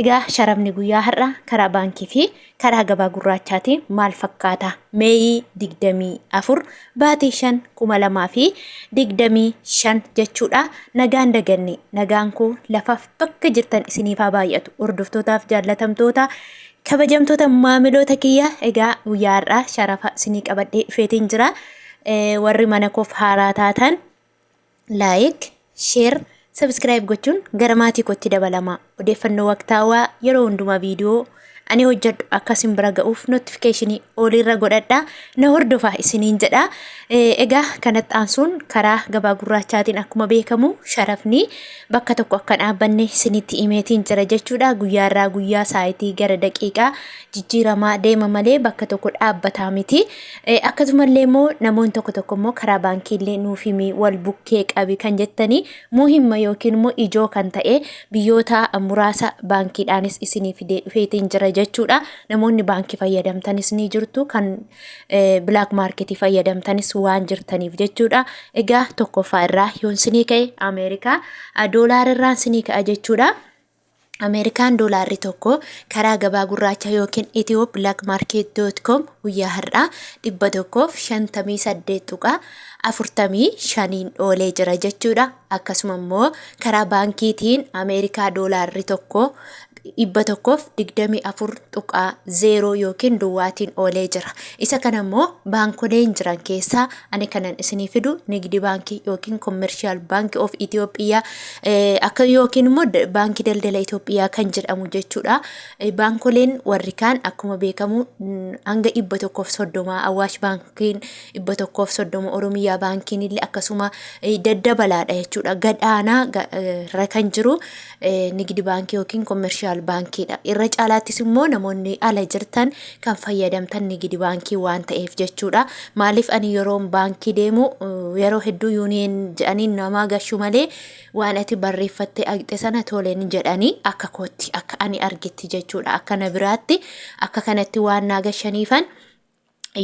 Egaa sharafni guyyaa har'a karaa baankii fi karaa gabaa gurraachaatiin maal fakkaata? Meeyii 24 baatii 5 2025 jechuudha. Nagaan daganne nagaan koo lafaaf bakka jirtan isiniif haa baay'atu. Hordoftootaaf jaallatamtoota kabajamtoota maamiloota kiyya egaa guyyaa har'aa sharafa isinii qabadhee dhufeetiin jira. Warri mana koof haaraa taatan Laayik, sheer, sabskiraayib gochuun gara maatii kootti dabalamaa. Odeeffannoo waqtaawaa yeroo hundumaa viidiyoo ani hojjedhu akka isin bira ga'uuf notifikashinii oliirra godhadhaa na hordofaa isiniin jedha. Egaa kanatti aansuun karaa gabaa gurraachaatiin akkuma beekamu sharafni bakka tokko akka dhaabbanne isinitti himeetiin jira jechuudha. Guyyaa irraa guyyaa saayitii gara daqiiqaa jijjiiramaa deema malee bakka tokko dhaabbataa miti. Eh, Akkasumallee immoo namoonni tokko tokko immoo karaa baankiillee nuuf himi wal bukkee qabi kan jettanii muhimma yookiin immoo ijoo kan ta'e biyyoota muraasa baankiidhaanis isinii fidee dhufeetiin jira jechuudha. Namoonni baankii fayyadamtanis ni jirtu kan eh, bilaak maarketii fayyadamtanis waan jirtaniif jechuudha. Egaa tokkoffaa irraa yoon sinii ka'e Ameerikaa ah, doolaara irraan sinii ka'a jechuudha. Ameerikaan doolaarri tokko karaa gabaa gurraachaa yookiin ethioblakmarket.com guyyaa har'aa 158.45n oolee jira jechuudha. Akkasuma immoo karaa baankiitiin Ameerikaa doolaarri tokko 124.0 yookiin duwwaatiin oolee jira. Isa kana immoo baankoleen jiran keessaa Ani kanan isinii fidu nigdi baankii yookiin commercial bank of Ethiopia eh, akka yookiin immoo da- baankii daldala Itoophiyaa kan jedhamu jechuudha. Eh, Baankoleen warri kaan akkuma beekamu mm, hanga dhibba tokkoof soddoma Awaash baankiin dhibba tokkoof soddoma Oromiyaa baankiin illee akkasuma eh, daddabalaadha jechuudha. Gad aanaa ga- eh, irra kan jiru nigdi baankii yookiin komershaal baankiidha. Irra caalaattis immoo namoonni ala jirtan kan fayyadamtan nigdi baankii waan ta'eef jechuudha. Maaliif ani yeroon baankii deemu yeroo hedduu yuuniyeen jedhanii namaa gashu malee waan ati barreeffattee agxe sana toleen jedhanii akka kootti akka ani argetti jechuudha. Akka na biraatti akka kanatti waan naa gashaniifan.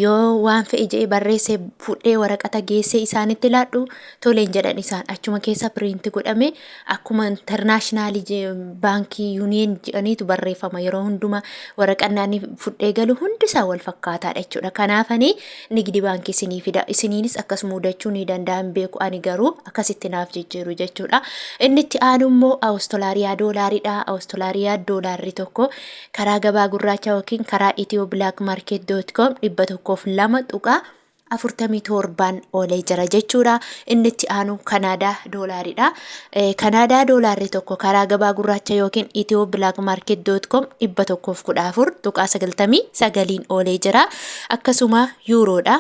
yoo waan fe'e je'e barreesse fudhee waraqata geessee isaanitti laadhu toleen jedhan isaan achuma keessa piriinti godhame akkuma intarnaashinaalii baankii yuuniyeen jedhaniitu barreeffama yeroo hundumaa waraqannaanii fudhee galu hundi isaa wal fakkaataadha jechuudha. Kanaafanii nigdi baankii isinii fida isiniinis akkas mudachuu ni danda'an beeku ani garuu akkasitti naaf jijjiiru jechuudha. Inni itti aanu immoo Awustolaariyaa doolaariidha. Awustolaariyaa doolaarri tokko Karaa gabaa gurraachaa yookiin karaa ethioblakmarket.com 102.47n oolee jira jechuudha. Inni itti aanu Kanaadaa doolaariidha. Eh, Kanaadaa doolaarri tokko karaa gabaa gurraacha yookiin ethioblakmarket.com 114.99n oolee jira. Akkasuma yuuroodha.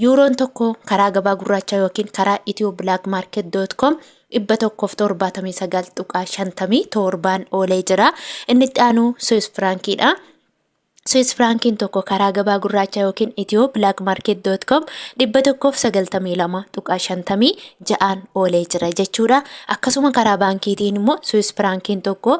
Yuuroon tokko karaa gabaa gurraachaa yookiin karaa ethioblagmarket.com 179.57n oolee jira. Inni itti aanu Swiss Frankiidha. Swiss Frankiin tokko karaa gabaa gurraachaa yookiin ethioblagmarket.com 192.56n oolee jira jechuudha. Akkasuma karaa baankiitiin immoo Swiss Frankiin tokko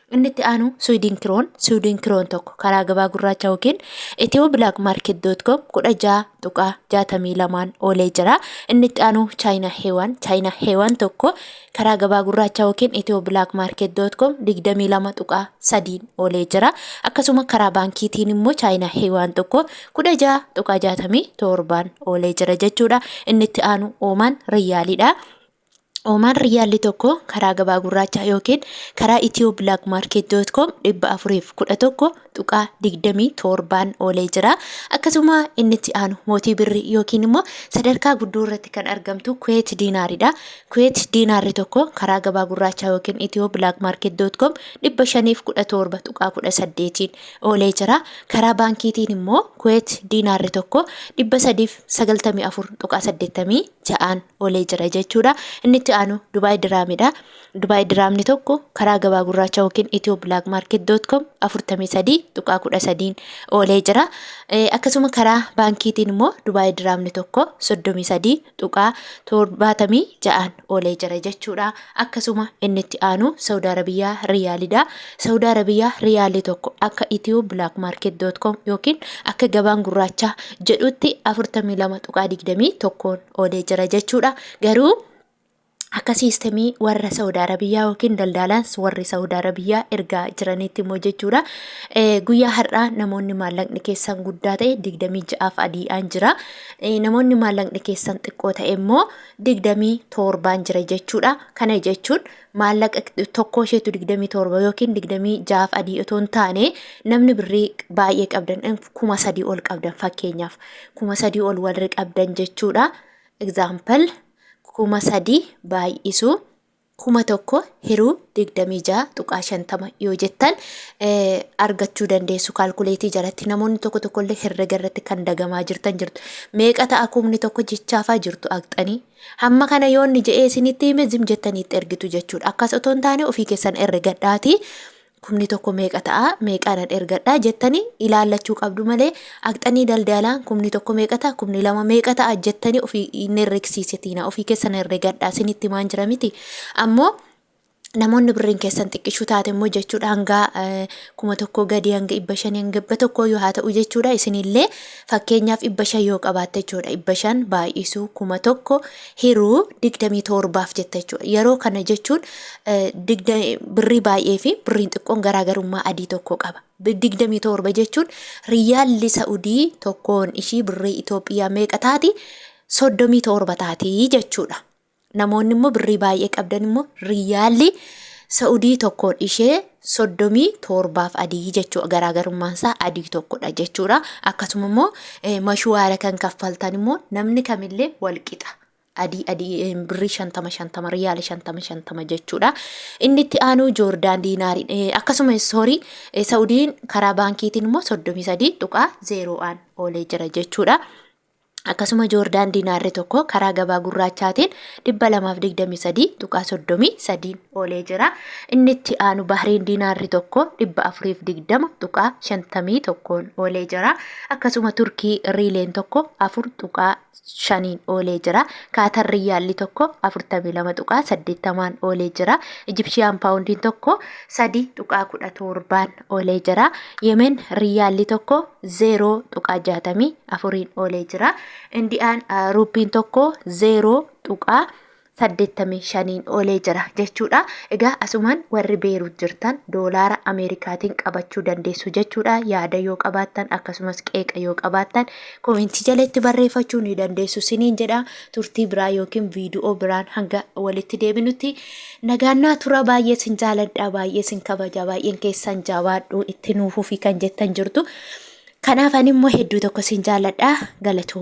Inni itti aanu Sweden Kron, Sweden Kron tokko karaa gabaa gurraacha yookiin ethioblagmarket.com 16.62n oolee jira. Inni itti aanu China Hewan, China Hewan tokko karaa gabaa gurraacha yookiin ethioblagmarket.com 22.3n oolee jira. Akkasuma karaa baankiitiin immoo China Hewan tokko 16.67n oolee jira jechuudha. Inni itti aanu Oman Riyaaliidha. Omaan Riyyaalli tokko karaa gabaa gurraachaa yookiin karaa Itiyoo Bilaak Maarkeet Doot Koom 411.27n oolee jira. Akkasuma inni itti aanu mootii birri yookiin immoo sadarkaa guddoo irratti kan argamtu Kuweet Diinaaridha. Kuweet Diinaarri tokko karaa gabaa gurraachaa yookiin Itiyoo Bilaak Maarkeet Doot Koom 517.18n oolee jira. Karaa baankiitiin immoo Kuweet Diinaarri tokko 394.86n olee jira jechuudha. Inni itti aanu Dubaay Diraamidha. Dubaay Diraamni tokko karaa gabaa gurraacha yookiin Itiyoo Bilaak Maarket doot koom afurtamii sadii tuqaa kudha sadiin oolee jira. Akkasuma karaa baankiitiin immoo Dubaay Diraamni tokko soddomii sadii tuqaa torbaatamii ja'aan oolee jira jechuudha. Akkasuma inni itti aanu Saawud Arabiyaa Riyaalidha. Saawud Arabiyaa Riyaalii tokko akka Itiyoo Bilaak Maarket doot koom yookiin akka gabaan gurraachaa jedhutti afurtamii lama tuqaa digdamii tokkoon qoodee jira jechuudha. Garuu akka siistemii warra Saawud Arabiyyaa yookiin daldaalaans warri Saawud Arabiyyaa ergaa jiranitti immoo jechuudha. Eh, Guyyaa har'aa namoonni maallaqni keessan guddaa ta'e digdamii ja'aaf adiidhaan jira. Eh, Namoonni maallaqni keessan xiqqoo ta'e immoo digdamii torbaan jira jechuudha. Kana jechuun maallaqa tokkoo isheetu 27 yookiin 26f adii otoo hin taane namni birrii baay'ee qabdan eh, kuma sadii ol qabdan fakkeenyaaf kuma sadii ol warri qabdan jechuudha. Example kuma sadii baay'isu kuma tokko hiruu 26.50 yoo jettan eh, argachuu dandeessu kaalkuleetii jalatti namoonni tokko tokkollee herrega irratti kan dagamaa jirtan jirtu meeqa ta'a kumni tokko jechaafaa jirtu aqxanii Hamma kana yoo inni je'ee isinitti hime zim jettanii itti ergitu jechuudha. Akkas otoo hin taane ofii keessan ergadhaati. Kumni tokko meeqa ta'a meeqaanan ergadhaa jettanii ilaallachuu qabdu malee aqxanii daldalaan kumni tokko meeqa ta'a kumni lama meeqa ta'a jettanii ofii hin herregsiisitiina ofii keessan herregadhaa isinitti himaan jira miti ammoo namoonni birriin keessan xiqqishuu taate immoo jechuudha hanga kuma tokkoo gadii hanga dhibba shanii hanga dhibba tokkoo yoo haa ta'u jechuudha isinillee fakkeenyaaf dhibba shan yoo qabaatte jechuudha dhibba shan baay'isuu kuma tokko hiruu digdamii torbaaf jetta jechuudha yeroo kana jechuun birrii baay'ee fi birriin xiqqoon garaagarummaa adii tokko qaba. digdamii torba jechuun riyyaalli sa'udii tokkoon ishii birrii Itoophiyaa meeqa taati soddomii torba taati jechuudha. Namoonni immoo birrii baay'ee qabdan immoo riyyaalli sa'udii tokkoon ishee soddomii torbaaf adii jechuudha garaagarummaan isaa adii tokkodha jechuudha akkasuma immoo mashuwaara kan kaffaltan immoo namni kamillee walqixa adii adii birrii shantama shantama riyaala shantama shantama jechuudha inni itti aanuu joordaan diinaari akkasuma soorii sa'udiin karaa baankiitiin immoo soddomii sadii tuqaa zeeroo'aan oolee jira jechuudha. akkasuma Joordaan diinaarri tokko karaa gabaa gurraachaatiin 223.33 oolee jira. Inni itti aanu Bahriin diinaarri tokko 420.51 oolee jira. Akkasuma Turkii riileen tokko 4.5 oolee jira. Kaatar riyyaalli tokko 42.80 oolee jira. Ijipshiyaan paawundiin tokko 3.17 oolee jira. Yemen riyyaalli tokko 0.64n oolee jira. Indiyaan ruuppiin tokko 0.85n oolee jira jechuudha. Egaa asumaan warri beeruut jirtan doolaara Ameerikaatiin qabachuu dandeessu jechuudha. Yaada yoo qabaattan akkasumas qeeqa yoo qabaattan koomentii jalatti barreeffachuu ni dandeessu siniin jedha. Turtii biraa yookiin viidiyoo biraan hanga walitti deebinutti Nagaannaa turaa baay'ee sin jaaladhaa baay'ee sin kabajaa baay'een keessan jabaadhu itti nuuf fufii kan jettan jirtu. Kanaaf ani immoo hedduu tokko sin jaaladhaa galatooma.